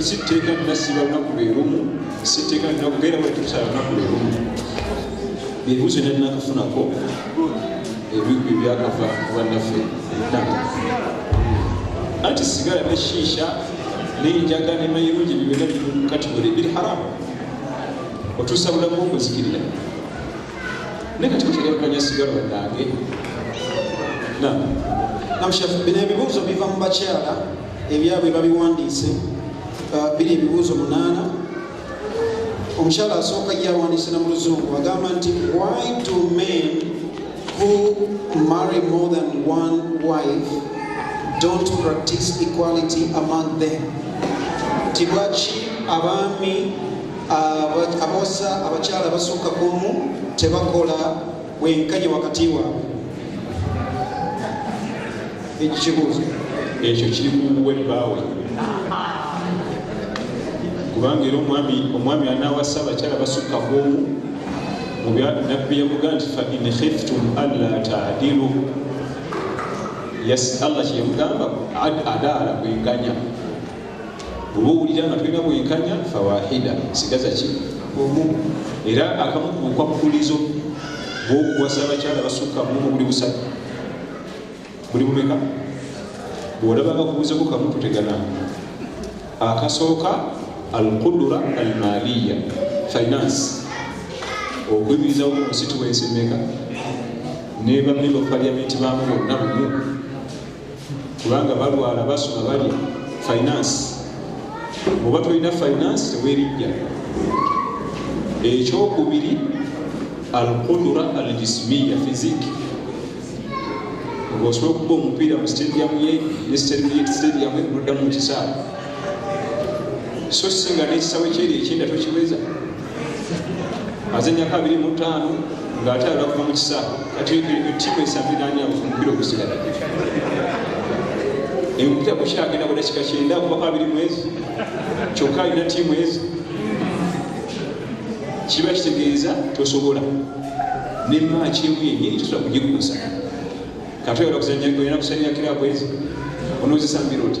sitteeka nina siba lunaku lwerumu sitteeka nina kubeera bwe tukusala lunaku lwerumu ebibuzo nina nakafunako ebigwi byakava bannaffe anti sigala ne shiisha nenjaga ne mayirungi byona kati buli biri haramu otuusa bulamu okuzikirira naye kati kutegerekanya sigala bannange na namushafu bino ebibuuzo biva mu bakyala ebyabwe babiwandiise uh, biri ebibuuzo munaana omukyala asooka yawandiise na mu luzungu agamba nti why do men who marry more than one wife don't practice equality among them nti lwaki abaami uh, abaosa abakyala abasooka kumu tebakola wenkanye wakati waabwe ekyo kibuuzo ekyo kiri kuwe bbaawe kubanga era omwami omwami anawasa abakyala basukka kuomu nabbi yamuga nti fa in khiftum alla tadilu allah kyeyamugamba adaala kwenganya oba owulira nga tulina bwenkanya fawahida sigaza ki omu era akamu ku bukwakkulizo bwokuwasa abakyala basukka mumu buli busatu buli bumeka bwolaba nga kubuuzeko kamu tutegana akasooka alqudura almaliya finance okuyimirizawo mu nsituwensi meka nebamemba parliamenti bamu bonna bumu kubanga balwala basoma bali finance oba tolina finance tewerijja ekyokubiri alqudura aljismiya fiziki osobola okuba omupiira mu stadium ye ne stadium ye noddamu mukisaawe so singa nekisawe kyeri ekyenda tokiweza aze emyaka abiri mu ttaano ng'ate alakuva mu kisa kati ttiimu esabiranya omupira ogusigala empira kukyagenda budakika kyenda kubako abiri mwezi kyokka alina ttiimu ezi kiba kitegeeza tosobola nemaaki emu yenyini tosobola kugikuusa kati oyala kuzanya kirabu ezi onoozisambira oti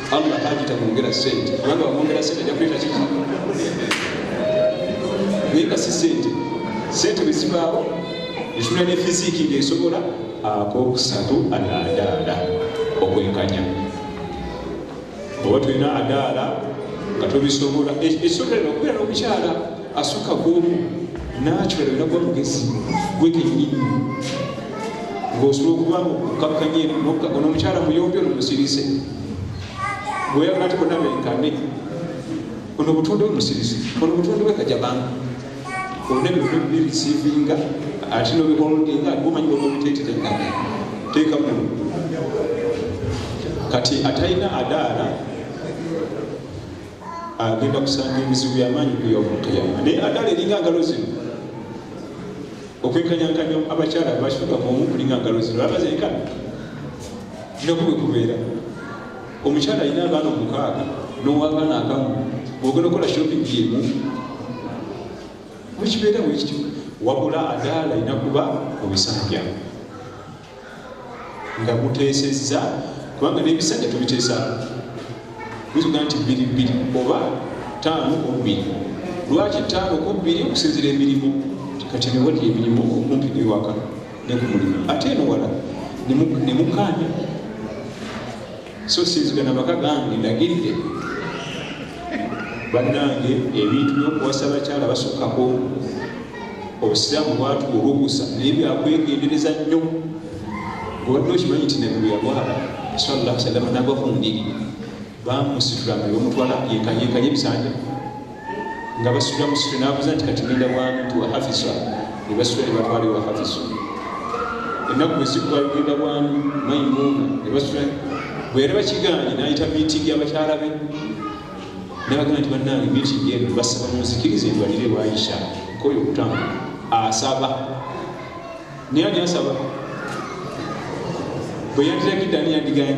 Allah haji tamwongera sente kubanga wamwongera sente ajja kuleta kiki naye nga si sente sente bwe zibaawo esula ne fiziki ng'esobola akokusatu adaadaala okwekanya oba tulina adaala nga tubisobola esobola okubeera n'omukyala asuka gwomu nakyala era gwa mugezi gwe kenyini ng'osobola okuba mukakkanye ono omukyala muyombi ono musirise bweyagala nti bonna benkane ono obutonde bwe musirise ono obutonde bwe kajabanga olina ebintu bibirisiivinga ate nobiholdinga omanyi bamubiteeterega teeka mu kati atalina adaala agenda kusanga ebizibu byamaanyi ku yomukiyama naye adala eringa ngalo zino okwekanyankanya abakyala abakituka muomu kulinga ngalo zino abazenkana kiraku bwe kubeera omukyala alina abaana omukaaga nowabaana akamu ogenda okola shopping yemu wekibeera wekityo wabula adaala alina kuba mu bisanja nga guteesezza kubanga n'ebisanja tubiteesaako bizuga nti bbiri bbiri oba taano kubbiri lwaki taano kubbiri okusinzira emirimu kati newali emirimu okumpi newaka ne ku mulimu ate eno wala ne mukaanya so sinzika na maka gange ndagirire bannange ebintu byokuwasa bakyala basukkako obusiraamu bwatu olukusa naye byakwegendereza nnyo obadde okimanyi nti nebweyalwala sallah salama nagwa ku ndiri bamusitula nebamutwala yekanyekanye ebisanja nga basula musitu nabuza nti kati ngenda bwantu wahafisa nebasula nebatwala ewahafisa ennaku bwezigwalugenda bwani maimuuna nebasula bweyali bakiganye nayita mitingi abakyala be nabagamba nti banange mitingi eno basaba munzikiriza endwalire ewaisha nkoyo okutambula asaba naye ani asaba bweyandiragidde ani yandiganye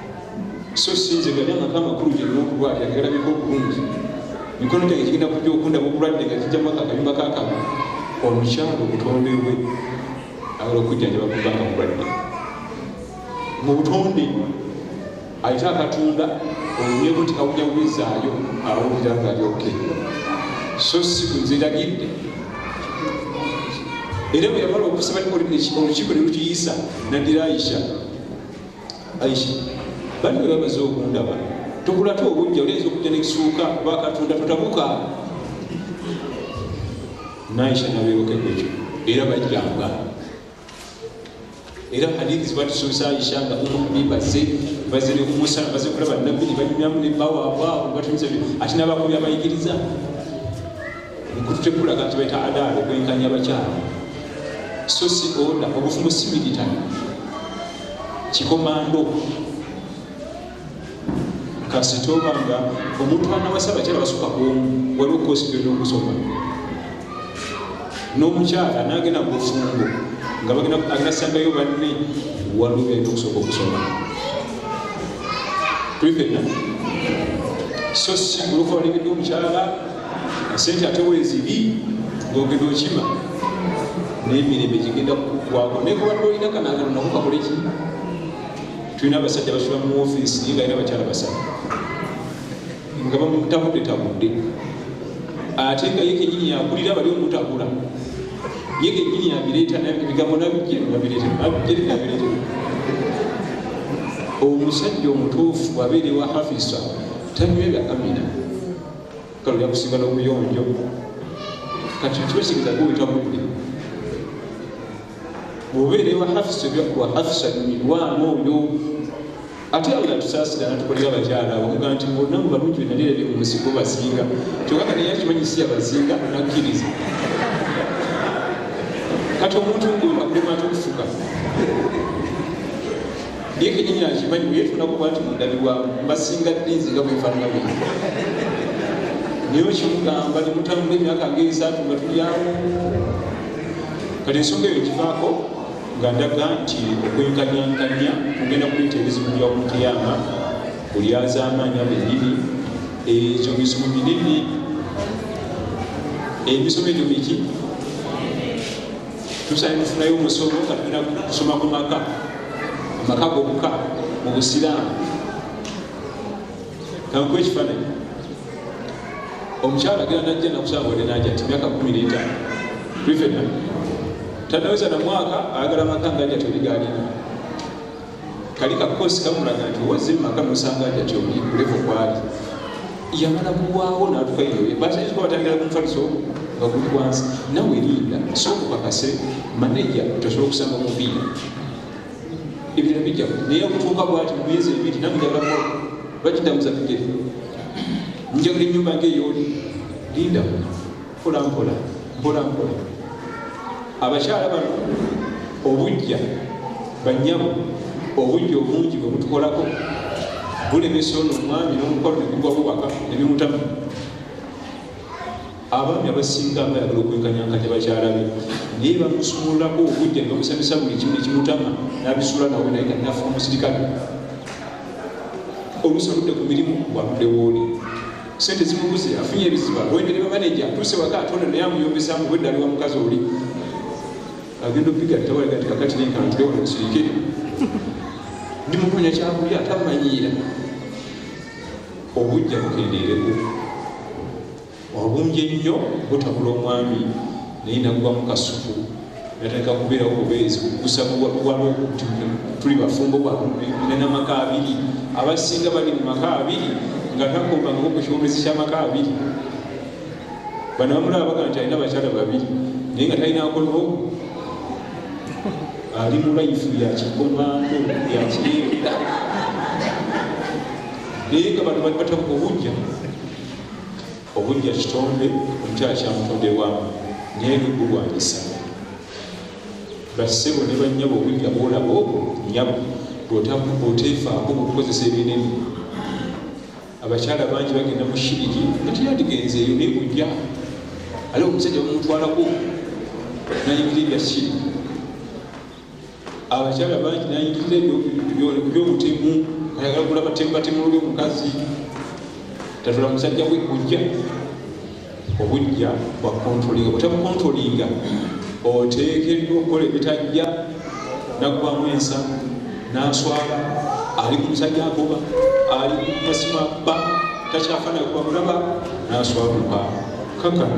so sinze gali amaka amakulu gyalina okulwala yagalabika obulungi mikono gyange kigenda kujja okundaba obulwadde nga kijjamu akakayumba kakaba omukyalo obutonde bwe ayala okujjanjaba kubanga mulwadde mu butonde ayite akatonda olunyeko nti kawuja wizaayo awulira nga lyoke so si kunziragidde era bwe yamala okusaba olukiiko ne lukiyisa naddira ayisha aisha bali bwe bamaze okundaba tukulate obujja olinza okujja nekisuuka bakatonda tutabuka naisha nabeebokeko ekyo era bajjanga era hadithi ziba tusuusa aisha nga umumi baze baze nekumusa baze kulaba nabbi nebanyumyamu nebawabwawo batumiza ate nabakubi abayigiriza nkututekulaga nti baita adaala okwenkanya abakyala so si oda obufumu si military kikomando kasita obanga omuntu anawasa abakyala basuka kuomu waliwo kosi gyolina okusoma n'omukyala nagenda mu bufumbo nga agenda sangayo banne waliwo byalina okusooka okusoma tuli fenna so si olukola nebiddwa omukyala esente ate wezibi ngogenda okima naye emirembe gigenda kukugwako naye kubadde olina kanangalo nako kakole ki tulina abasajja basula mu ofiisi naye nga era bakyala basatu nga bamutabudde tabudde ate nga ye kenyini yakulira bali omutabula ye kenyini yabireeta ebigambo nabijjnabijjnabijjnabijjn omusajja omutuufu abeera ewa hafisa tanywera amina kale ojja kusinga n'obuyonjo kati kibasigeza guyita budde obeera ewa hafisa ebyakuwa hafisa mirwamu oyo ate awo natusaasira natukolera abakyala abakuga nti bonna mu balungi benalira bye mu nsi bobasinga kyokka kati yakimanyi si yabasinga nakkiriza kati omuntu ngomba kulema atukufuka naye kenyini akimanyi weyetunako bwati mundabirwa mbasinga ddi nze nga bwefanana bwe naye okimugamba nemutambula emyaka nga esaatu nga tulyawo kati ensonga eyo kivaako nga ndaga nti okwenkanyankanya kugenda kuleeta ebizibu bya omuteyama kulyazamaanya benyini ekyo bizibu binene emisomo egyo biki tusaina tufunayo omusomo nga tugenda kusoma ku maka amaka gokka mu busiraamu kankuwa ekifaananyi omukyala agenda najja nakusaba wade naja ti myaka kumi netaano privena tanaweza na mwaka ayagala maka ngaja toligalina kali kakosi kamulaga nti owaze maka nosanga aja kyoli kulevo kwali yamala kuwaawo natuka yoye basaizuka batandikira kumufaliso nga guli wansi nawe linda sokukakase maneja tosobola okusanga mupiira ebintu bijja naye okutuuka bwati mumyezi ebiri namujabamu lwakidamuza bigere njagula enyumba nga eyoli linda mpola mpola mpola mpola abakyala bano obujja banyabo obujja obungi bwe butukolako bulemesa ono omwami n'omukono ne gugwa bubaka ne bimutamu abaami abasinga nga yagala okwekanyankanya bakyala be naye bamusuulako okujja nebamusabisa buli kimu nekimutama nabisuula nawe naye nga nafa omusirikale olusaludde ku mirimu gwaludde wooli sente zimubuze afunye ebizibu agoyende ne bamaneja atuuse waka atonda naye amuyombesa mu bwedda aliwa mukazi oli agenda opiga tawalaga nti kakati nenkantule wano nsirike ndimukonya kyakulya tamanyiira obujja bukendeereko wabumbye nnyo butabula omwami naye nagwa mu kasuku natandika kubeerawo bubeezi kugusabuwalwo tuli bafumbo bwanenamaka abiri abasinga bali mu maka abiri nga takombangako ku kiwomezi kyamaka abiri bano bamulaba baga nti alina bakyala babiri naye nga talina akolwo ali mu laifu yakikomako yakiyenda naye nga bano bali batabuka obujja obujja kitonde omukyala kyamutonde wamu naye lugulwanyisa basebo ne banyabo obujja bwolaba obwo nyabo bwotefaako bukukozesa ebinene abakyala bangi bagenda mu shiriki natiyandigenze eyo naye bujja ali omusajja bamutwalako nayingira ebya shiriki abakyala bangi nayingirira ebyobutemu ayagala gula batemubatemu luli omukazi tatula musajja gwe kujja obujja bwa kontrolinga butabukontrolinga oteekeddwa okukola ebitajja naggwamu ensa naswala ali ku musajja agoba ali kumasima ba takyafana kuba mulaba naswaluka kakana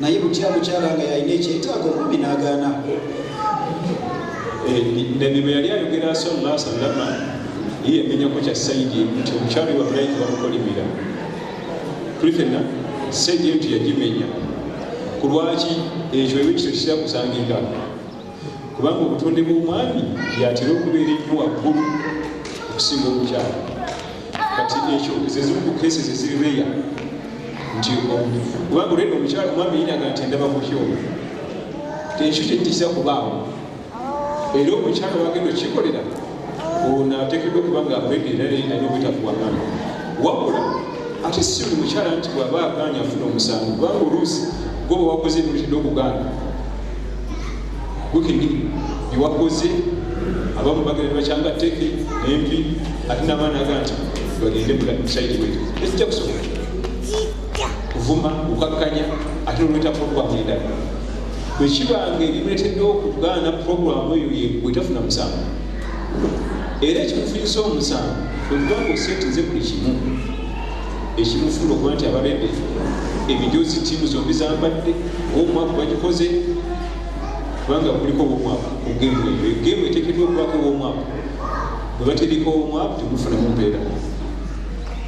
naye butya mukyala nga yalina ekyetaago omwami n'agaana eh, nabi bwe yali ayogera sallah sallama ye yamenyako kya saidi nti omukyalo wabulaiki bamukolimira tuli fenna saidi nti yagimenya ku lwaki ekyo ebyo kito kirakusangika kubanga obutonde bw'omwami yatera okubeera ennyo waggulu okusinga omukyalo kati ekyo zezimu ku kesi zeziri reya nti kubanga olwedde omukyalo omwami yinaga nti endaba mukyolo ekyo kyetisa kubaawo era omukyalo wagenda okikolera ono atekedwa okuba nga akwega era naye nalina obutakuwakana wabula ate si buli mukyala nti bwaba agaanya afuna omusango kubanga oluusi goba wakoze ebintu okugaana gukini byewakoze abamu bagenda bakyanga teke empi ate nabaana aga nti bagende musaidi wetu ekijja kusobola kuvuma kukakkanya ate nolwetakokwamwendala bwe kiba ng'ebimuleeteddewo okugaana pulogulaamu eyo yegwe tafuna musango era ekimufiisa omusango kwekuba nga oseetinze buli kimu ekimufuula okuba nti abalede ebijozi tiimu zombi zambadde omwaka bagikoze kubanga kuliko womwaka ogemu eyo egemu etekeddwa okubako womwaka bwe baterika omwaka temufunamu mpeera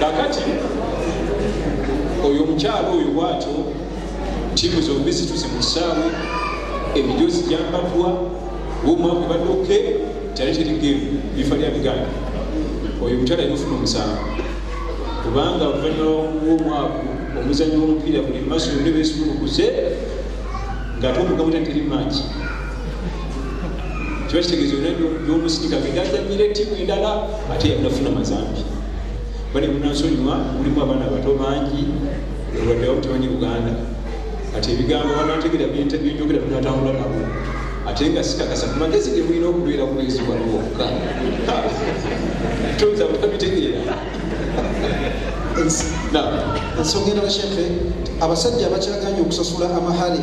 kakati oyo omukyalo oyo bwatyo tiimu zombi zituze mu kisaawe emijozi gyambaddwa womwaka badde oke kyali kiri gemu bifa lya biganda oyo omukyalo alina ofuna omusango kubanga oluvannyuma lwomwaka omuzanyi womupiira buli maso yonde besumulukuze nga ate omugamu tateri mangi kiba kitegeeza byona byomusindika genda ajamira ettiimu endala ate yabinafuna mazambi bane munansonyiwa mulimu abaana abato bangi olwaddewo temanyi uganda kati ebigambo banategera byenjogera binatambula nabo ate nga sikakasa ku magezi ge mulina okubeera ku mwezi wano wokka toyinza kutabitegeera ensonga endala shefe abasajja abakyaganye okusasula amahale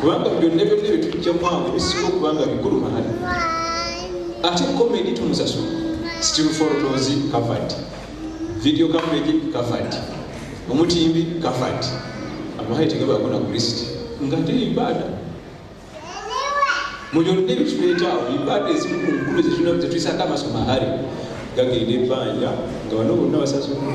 kubanga byonna byonna byetujja mwange bisinga okuba nga bikulu mahali ate komedi tumusasula still photos covered video coverage covered omutimbi covered amahali tegabaako na kulist nga te ibaada mu byonna ebituleetaawo ibaada ezimu ku nkulu zetulina zetuyisaako amaso mahali gagenda ebbanja nga bano bonna basasula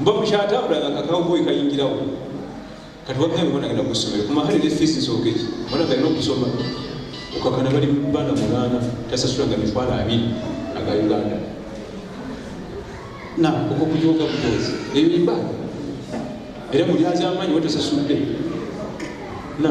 mba mukyatambula nga kakawuboyi kayingirawo kati wabyange bona agenda kusomero kumahali ne fiisi nsooka eki bona galina okusoma okakana bali bana munaana tasasula nga mitwalo abiri aga uganda na okokujoga butozi eyo imba era mulyazamanyi watasasudde na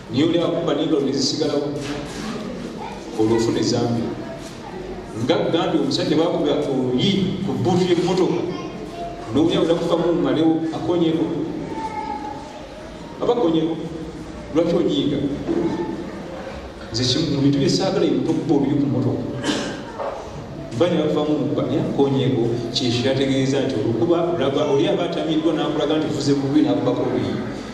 newly akuba nendolo nezisigalawo olwo ofuna ezambi nga gambye omusajja bakuba oluyi ku buutu yemumotoka nowulira unakufamu mumalewo akonyeko abakonyeko lwaki onyiiga nze kimu mu bintu byesaagala emutokuba oluyi ku motoka bali bavamu mukubamya konyego kyekyo kyategeeza nti olukuba olaba oli aba atamiddwa n'akulaga nti fuze bubi n'akubako obuyi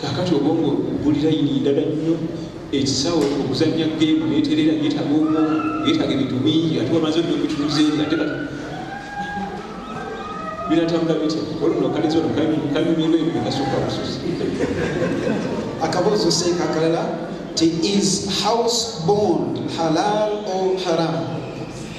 kakati obwongo buli layini ndala nnyo ekisawo okuzanya gemu neterera yetaga obwongo yetaga ebintu bingi ate wamaze nyo bituuze ate kati binatambula bitya olunokaliza ono kanyumirwa ebyo bikasooka bususi akabuuzo seeka akalala ti is house bond halal or haram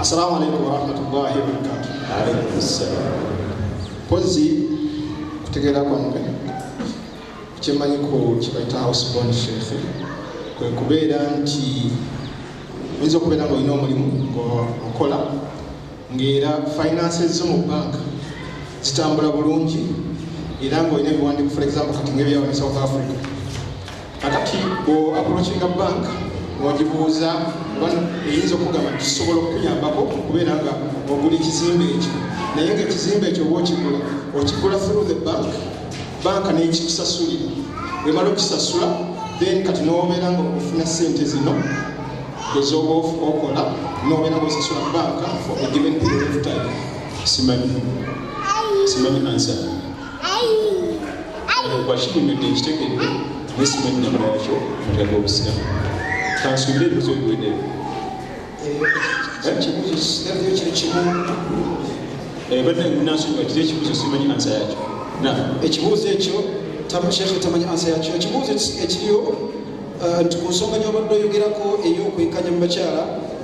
assalamu alaikum warahmatullahi wabarakatu mpozi kutegeera kwange kyemanyiko kyebaita housebon shefe kwekubeera nti oyinza okubeera nga olina omulimu okola ngaera finance zo mu bank zitambula bulungi era ngaolina ebiwandiiko for example kati ngaebyawa ne south africa kakati bo approachinga bank ogibuuza eyinza okugamba kisobola okukuyambako okubeera nga ogula ekizimbe ekyo naye nga ekizimbe ekyo oba okigula okigula through the bank banka nekikusasulira wemala okisasula then kati nobeera nga ofuna sente zino ezoba okola nobeera nga osasula banka for a given period of time simanyi simanyi answer bwakitunyudde nkitegedde nesimanyi namula yakyo mutya gwobusiramu kansuubire ebibuzo biwedeyo badde nasonyiwa kiri ekibuzo simanyi ansa yakyo ekibuuzo ekyo shekhe tamanyi ansa yakyo ekibuuzo ekiriyo nti ku nsonga nyobadde oyogerako ey'okwenkanya mu bakyala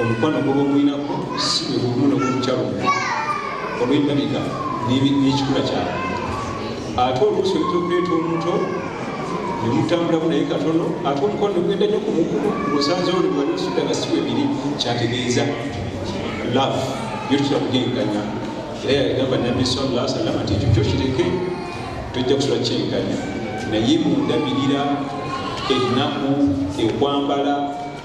omukwano gwoba omulinako si bwe bumu n'obumukyalo olw'endabika n'ekikula kyabwe ate oluusi oyinza okuleeta omuto nemutambulamu naye katono ate omukwano ogenda nyo ku mukulu osanzewo nebwali osudda nga siwe biri kyategeeza love yo tutera kugenganya era yagamba nabbi sallah salama nti ekyo kyo kireke tojja kusula kyenganya naye mundabirira ennaku ekwambala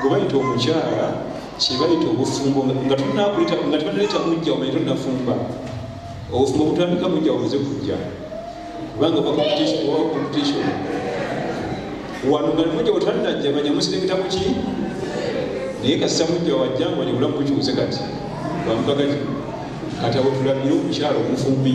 gwe bayita omukyala kyebayita obufumbo nga tunakuleta nga tubanaleta mujja omanye tonafumba obufumbo butandika mujja omaze kujja kubanga oba competition oba competition wano nga mujja otanajja manya musirengeta muki naye kasita mujja wajja nga wajja bulamu bukiwuze kati bamukakati kati abo tulabire omukyala omufumbi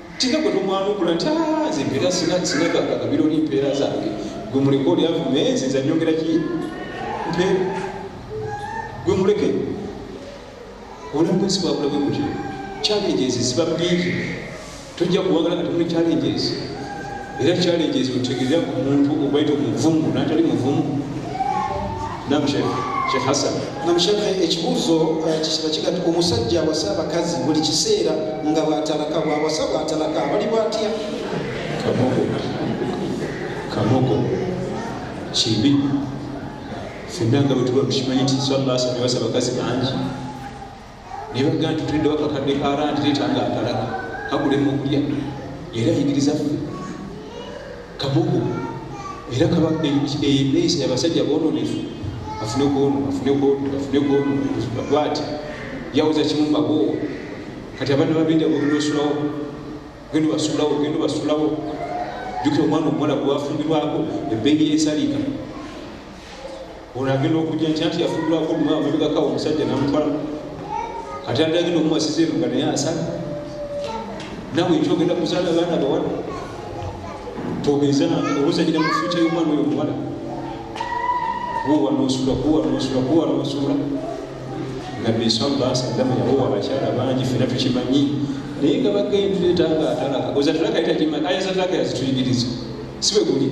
kika gwe tomwanukula nti ah, nze mpeera sinagagabiro ni mpeera zange gwe muleke oli avume nze nza nyongera ki mpe gwe muleke obulamu bwensi bwabula bwe butyo challenges ziba bingi tojja kuwagala nga temuli challenges era challenges otegeera ku muntu obaita omuvungu natali muvumu nam shekh hasan nam shekh ekibuuzo eh, kisiba kiga ti omusajja awasa abakazi buli kiseera nga bwatalaka bwawasa bwatalaka abali bwatya kamogo kamogo kibi fenna nga bwetuba tukimanyi nti sallasabasa abakazi bangi naye bagamba nti tuliddewo akakadde ka randi leeta nga akalaga kagulemu okulya era yigiriza ffe kabugu era kaba eneeyisa yabasajja boononefu afune gwono afune gwono afune gwono bwati yawoza kimu mbagoowa kati abaana babinda ogenda osulawo ogenda basulawo ogenda basulawo jukira omwana omuwala gwewafumbirwako ebbeeyi yensaliika ono agenda okujja nkya nti yafuddwako omumwa amabegakawo omusajja namutwala ate andi agenda okumwasiza eno nga naye asala nawe ekyogenda kuzaala abaana bawala togeza obuzanyira mu fyuca y'omwana oyo omuwala kuwa nosula kuwa nosula kuwa nosula nabbi salla sallama yawowa abakyala bangi fena tukimanyi naye nga bagendeeta nga atalaka ozatalaka yitakimanyi ayazataka yazituyigiriza siwe guli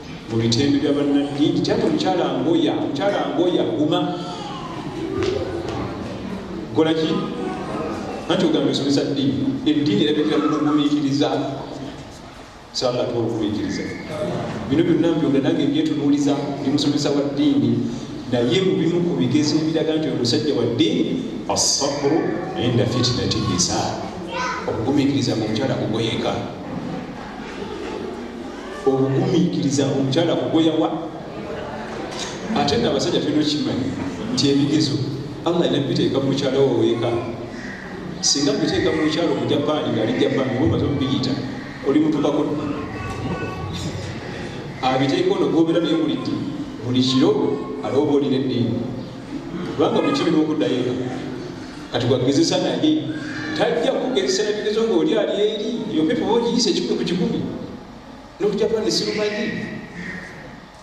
mu bitembe bya bannanyini kyati omukyala ngoya omukyala ngoya guma kolaki anti ogamba esomesa ddiini eddiini erabikira mu kugumiikiriza sala twokugumiikiriza bino byonna mbyonda nange byetunuuliza ndi musomesa wa ddiini naye mu bimu ku bigezo ebiraga nti omusajja wa ddiini assabru inda fitinati nisa okugumiikiriza ngaomukyala kugoyeka obugumiikiriza omukyala kugoyawa ate na abasajja tulina okimanyi nti ebigezo allah alina biteeka mukyala waweeka singa biteeka mukyalo mujapaani ngaali japaani obaomaze omubiyita oli mutukako abiteeka ono gobera naye buliddi buli kiro alooba olina eddiini kubanga buli kiri nokuddayo eka kati gwagezesa naye tajja kugezesa nabigezo ngaoli ali eri yopepa ogiyisa ekikumi ku kikumi nokujapani sirumanyi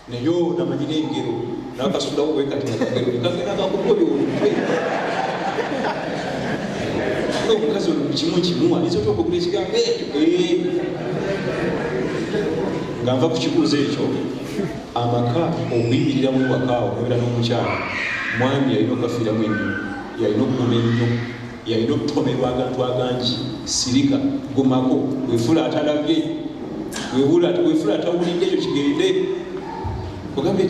naye onamanyi nengero nakasulawo wekatinagerokagenagakukoyo olukwe omukazi olukimu kimu ayinza otya okugula ekigambo ekyo eh. nga nva ku kibuuzo ekyo amaka okuyimiriramu ewakaawo obeera n'omukyala mwami yalina okugafiiramu ennyo yalina okuguma ennyo yalina okutomerwa agantu agangi sirika gumako wefula atalabye wefula atawulidde ekyo kigende ogambye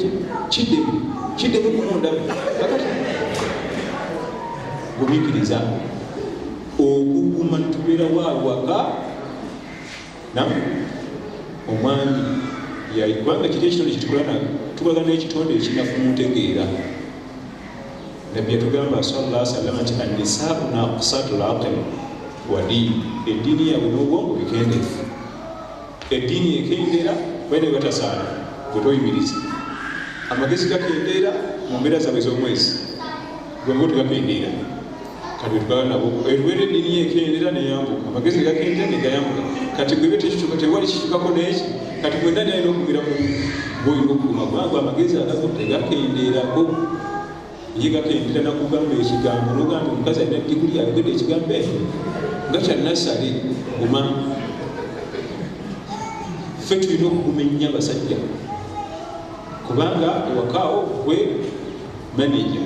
kiddemu kiddemu kumundabye kakati gumikiriza okuguma tubeerawo awaka namu omwami yali kubanga kiri ekitonde kitukola na tubaga n'ekitonde ekinafu mutegeera nabbi yatugamba salla salama nti annisaau naqsatu laqil wa diini eddiini yabwe n'obwongo bikendeefu eddiini ekendeera bene batasaala bwetoyimiriza amagezi gakendeera mu mbeera zaabwe z'omwezi gwe mubutu gakendeera kati bwana bo eluwera edini yekendera neyambuka amagezi gakendera negayambuka kati gwebe tekikyuka tewali kikyukako neki kati gwena nalina okumira ku gwoyina okuguma gwangu amagezi agago tegakenderako ye gakendera nakugamba ekigambo nogamba omukazi alina diguli ayogede ekigambo ekyo nga kyanasale guma fe tulina okuguma ennya basajja kubanga ewakaawo gwe manager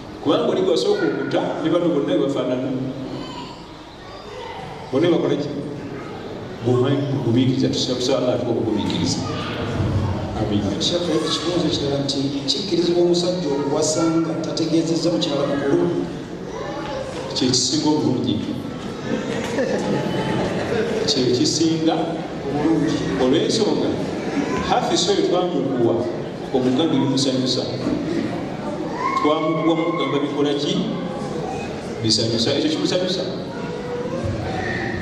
kubanga oli gwasooka okuta ne bano bonna ebafaanana bona bakola ki bumanyigubikiriza tusabusaala atuka okugumikiriza ekibuuzo kirala nti kikkirizibwa omusajja okuwasanga tategeezezza mukyala mukulu kyekisinga obulungi kyekisinga obulungi olwensonga hafisoyo twamukuwa omuganda bimusanyusa twamukuwa mugamba bikola ki bisanyusa ekyo kimusanyusa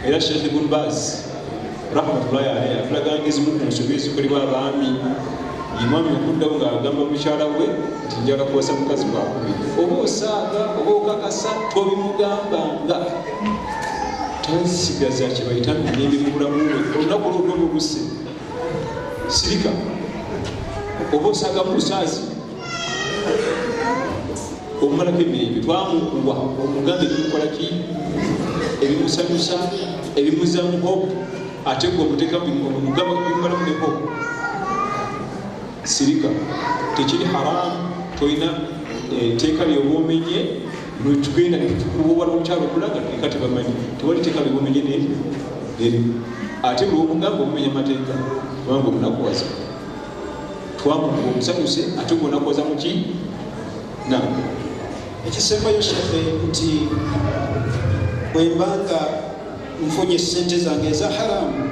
era sheikh ibn baz rahmatullahi alaihi atulaga ngezimu ku nsobi ezikolebwa abaami imwami okuddawo ngaagamba mukyala we nti njala kuwasa mukazi wakubi oba osaaga oba okakasa tobimugambanga tansigaza kyebayita mirembe mu bulamu we olunaku olwodomu luse sirika oba osaga mu lusaazi omumalako emirembe twamukuwa omugambe ebimukolaki ebimusanyusa ebimuzamu hope ate gwe omutekamugamba bimalamu ne hope sirika tekiri haramu tolina eh, teeka lyobwomenye lwetugenda nekutukuba lwomukyalo okulaga eka tebamanyi tewali teeka lwebumenye neri ate lwomugamba omumenya mateeka kubanga omunakuwaza twamuga omusanyuse ate gwonakuwaza muki na ekisembayo shefe nti bwembanga nfunye sente zange eza haramu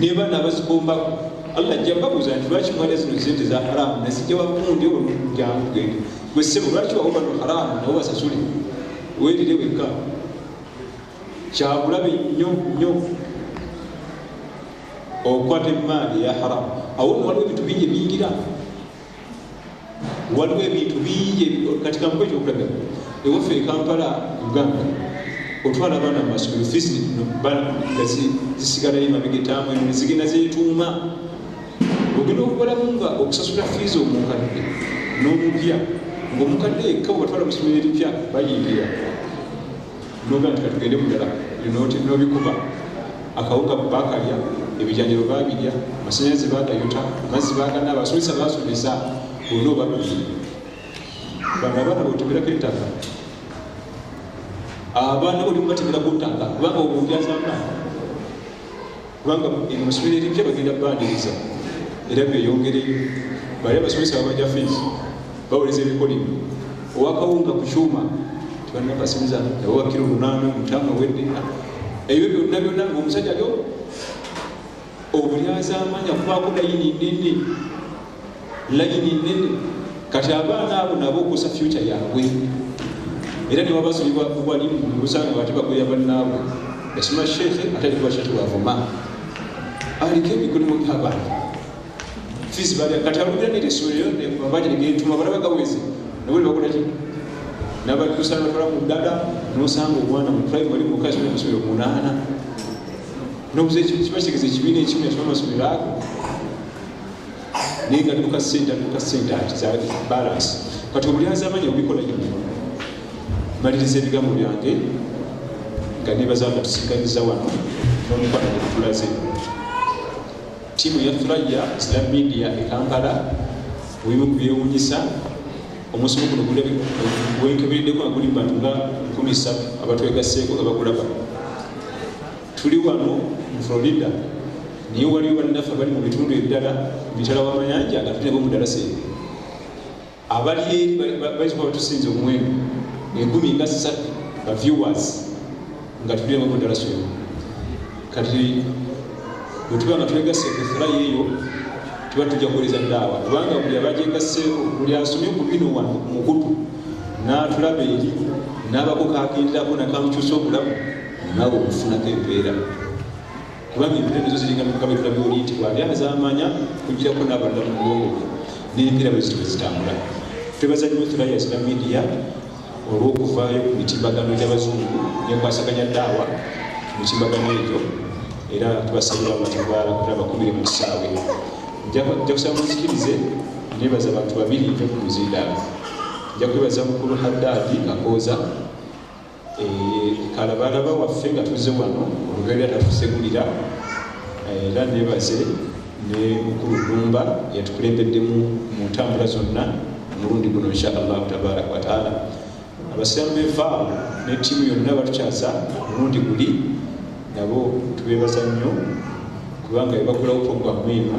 nebana abazikombako allah ajja babuuza nti lwaki mwala zino sente za haramu nasijja bakundi olumujangu gende gwe sebo lwaki wawo bano haramu nawo basasule werire wekka kyabulabe nyo nyo okwata emaali ya haramu awo nowaliwo ebintu bingi ebiyingira waliwo ebintu bingi kati kampa ekyokulabya ewaffe ekampala uganda otwala abaana mumasomero fisi nga zisigalayo emabega etamu eno nezigenda zetuuma ogenda okubalamu nga okusasula fiizi omukadde n'omupya ngaomukadde yekka webatwala musomero eripya bayingira noga nti katugende mudala binoti nobikuba akawuga bakalya ebijanjalo babirya amasanyalaze bagayuta amazzi bagana abasomesa basomesa olina obabiri bano abaana botemerako ettaka abaana olimubatemerako ttaka kubanga obunjazama kubanga mu ssomero erimpya bagenda baaniriza era beyongereyo bali abasomesa babaja fiisi bawoleza ebikolimo owakawunga ku kyuma tibanakasimiza nabo bakira olunaana mutama wedde ebyo byonna byonna ngaomusajja lyo obulyazaamanya kubaako nayini nene layini nene kati abaana abo nabo okusa fyuca yabwe era newabasulibwa walimu osanga ate bagwera bannaabwe yasoma sheekhe ate alikuba sheekhe wavuma aliko emikolimu gyabantu fizi balya kati abulira netesoleyo mabanja negetuma balaba gaweze nabo nebakolaki nabatusa batwala ku ddala nosanga omwana mu primary muka asoma amasomero munaana nobuza kiba kitegeza ekibiina ekimu yasoma amasomero ago naye nga dduka sente dduka sente akizalaki balance kati obulyanzi amanya obikola nyo maliriza ebigambo byange nga nebaza nga tusiganiza wano nomukwano gwetulaze tiimu ya thuraya islam media e kampala webimu ku byewunyisa omusomo guno gwenkebereddeko nga guli mu bantu nga nkumi satu abatwegasseeko nga bagulaba tuli wano mu florida naye waliyo bannaffe abali mu bitundu ebirala mitala wamayanja nga tulinabo mudalasa ebyo abali eri baituka batusinza omuwendo ekumi nga satu ba viewers nga tulinabo mudalasa ebyo kati bwetuba nga twegase kuthura yeeyo tuba tujja kuwuliriza daawa kubanga buli abajegaseeko buli asomye ku bino wano mukutu n'atulaba eri n'abako kagenderako nakamukyusa obulamu naawe okufunako empeera kubanga empeera nizo ziringa mukabetula byoli nti bwali azamanya kugirako n'abalala mu bwongo bwe n'empeera bwe zitwe zitambula twebaza nnyo thulaya zina midiya olw'okuvaayo ku mitimbagano gy'abazungu nekwasaganya daawa ku mitimbagano egyo era tubasabira amatagwala kuba bakumire mu kisaawe nja kusaba muzikirize nebaza abantu babiri nja ku muzindaalo nja kwebaza mukulu haddaadi akooza kalabalaba waffe nga tuze wano olubeera natusegulira eh, era nebaze ne mukulu lumba yatukulembeddemu mu ntambula zonna omulundi guno inshaallahu tabaraka wataala abasiramu bevaawo ne tiimu yonna batukyaza omulundi guli nabo tubebaza nnyo kubanga ebagulawo programu eno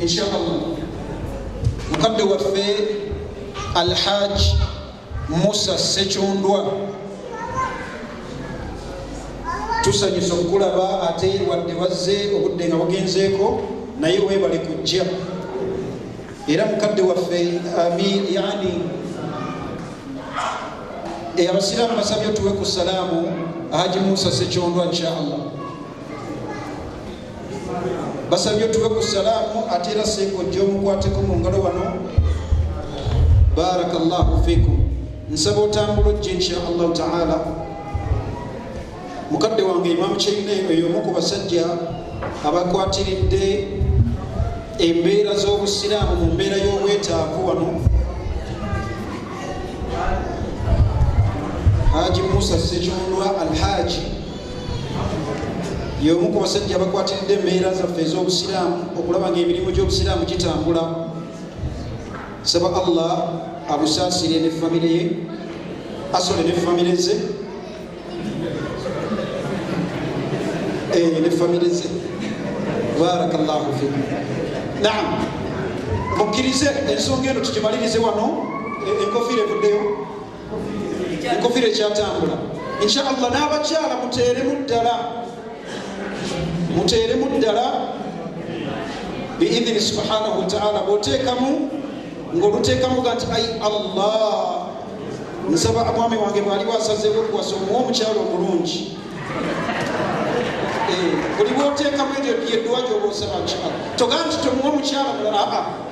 inshallah mukadde waffe alhaj musa sekyundwa tusanyusa okukulaba ate wadde wazze obudde nga bugenzeeko naye webale kujja era mukadde waffe amin yani abasiraamu basabye otuwe ku salaamu haji musa sekyondwa inshallah basabye otuwe ku salaamu ate era senga ojja omukwateko mu ngalo wano baraka llahu fikum nsaba otambula ojja insha allahu taala mukadde wange imamu kyeyina eyo omu ku basajja abakwatiridde embeera z'obusiraamu mu mbeera y'obwetaavu wano haji musa sekirundwa alhaji y'omu ku basajja abakwatiridde embeera zaffe ez'obusiraamu okulaba ng'emirimu gy'obusiraamu gitambula saba allah abusaasire ne famire ye asole ne famire ze eh, ne famire ze barakallahu fi naam mukkirize ensonga eno tugimalirize wano eh, enkofiira evuddeyo enkofiira ekyatambula insha allah n'abakyala muteeremu ddala muteeremu ddala biidhini subhanahu wataala bwoteekamu ngaoluteekamu ga nti ai allah nsaba mwami wange bwaliwo asazeewo okuwasa omuwa omukyalo omulungi eh, buli bwoteekamu eryo yedduwa gyoba osaba nkyala togaa nti tomuwa omukyala mulala aa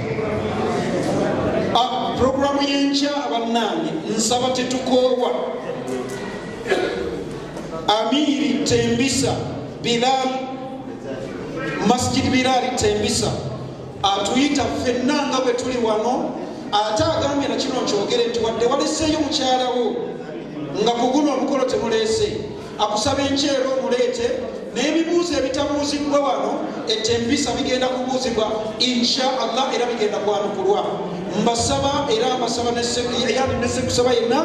ah, puroguramu y'enkya bannange nsaba tetukoowa amiiri tembisa bilal masjid bilali tembisa atuyita ffenna nga bwe tuli wano ate agambye na kino nkyogere nti wadde waleseeyo mukyalawo nga ku guno omukolo temuleese akusaba enkyero omuleete n'ebibuuzo ebitabuuziddwa wano etempisa bigenda kubuuzibwa insha allah era bigenda kwanukulwa mbasaba era mbasaba yani nesekusaba yenna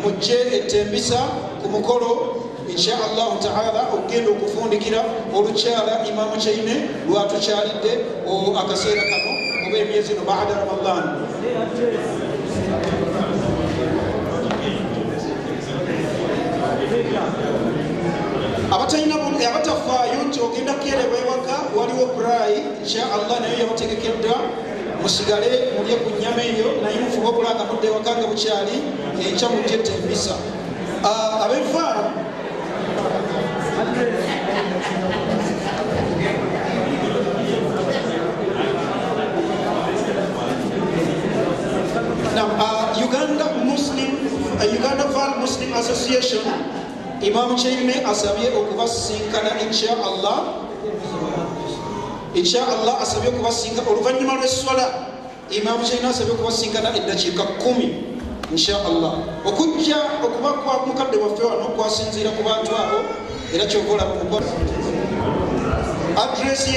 mujje etempisa ku mukolo insha allahu taala okugenda okufundikira olukyala imamu kyaine lwatukyalidde akaseera kano oba emyezi no baada ramadan abatalina eh, abatafaayo nti ogenda kukeereba ewaka waliwo brai insha allah nayo yabategekeddwa musigale mulye ku nyama eyo naye mufuba okulanga mudde ewaka nga bukyali enkya mujjetta embisa ah, abevaamu Now, uh, Uganda Muslim, uh, Uganda Val Muslim Association, Imam Chaime asabye okubasinkana insha Allah. Insha Allah asabye okubasinka oluvannyuma lw'esswala. Imam Chaime asabye okubasinkana eddakiika kkumi insha Allah. Okujja okuba kwa mukadde waffe wano kwasinziira ku bantu abo era ky'okola mu kukola. Address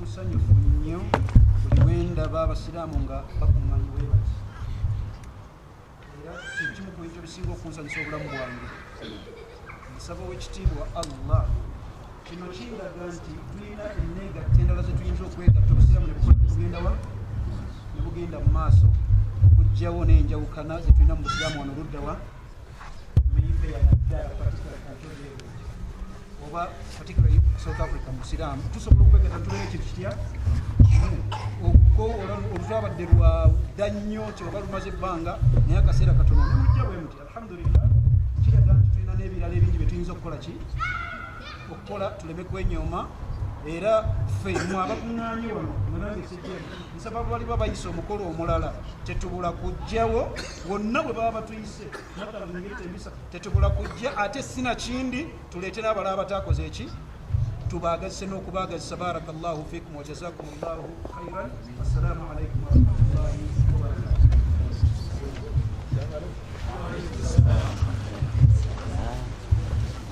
musanyufu nnyo buli wendaba abasiraamu nga bakumanyi webati era kyekimu ku bintu ebisinga okunsanyusa obulamu bwange nsaba owekitiibwa allah kino kindaga nti tulina eneegatta endala zetuyinza okwegatta obusiraamu nebugendawa nebugenda mu maaso okugjawo n'enjawukana zetulina mu busiraamu wano luddawa oba particularly south africa musiraamu tusobola okwegata tubeera ekintu kitya oluzabadde lwadda nnyo kyoba lumaze ebbanga naye akaseera katono nemujja bwe muti alhamdulillah kiraga nti tulina n'ebirala ebingi bye tuyinza okukola ki okukola tuleme kwenyooma era ffe mu abakuŋŋaanye wano nange sijja nsaba baliba bayisa omukolo omulala tetubula kujjawo wonna bwe baba batuyisa tetubula kujja ate sina kindi tuletera abala abatakoze eki tubagazise n'okubagazisa baraka llahu fikum wajazakum llahu khairan assalamu alaikum warahmatullahi wabarakatuh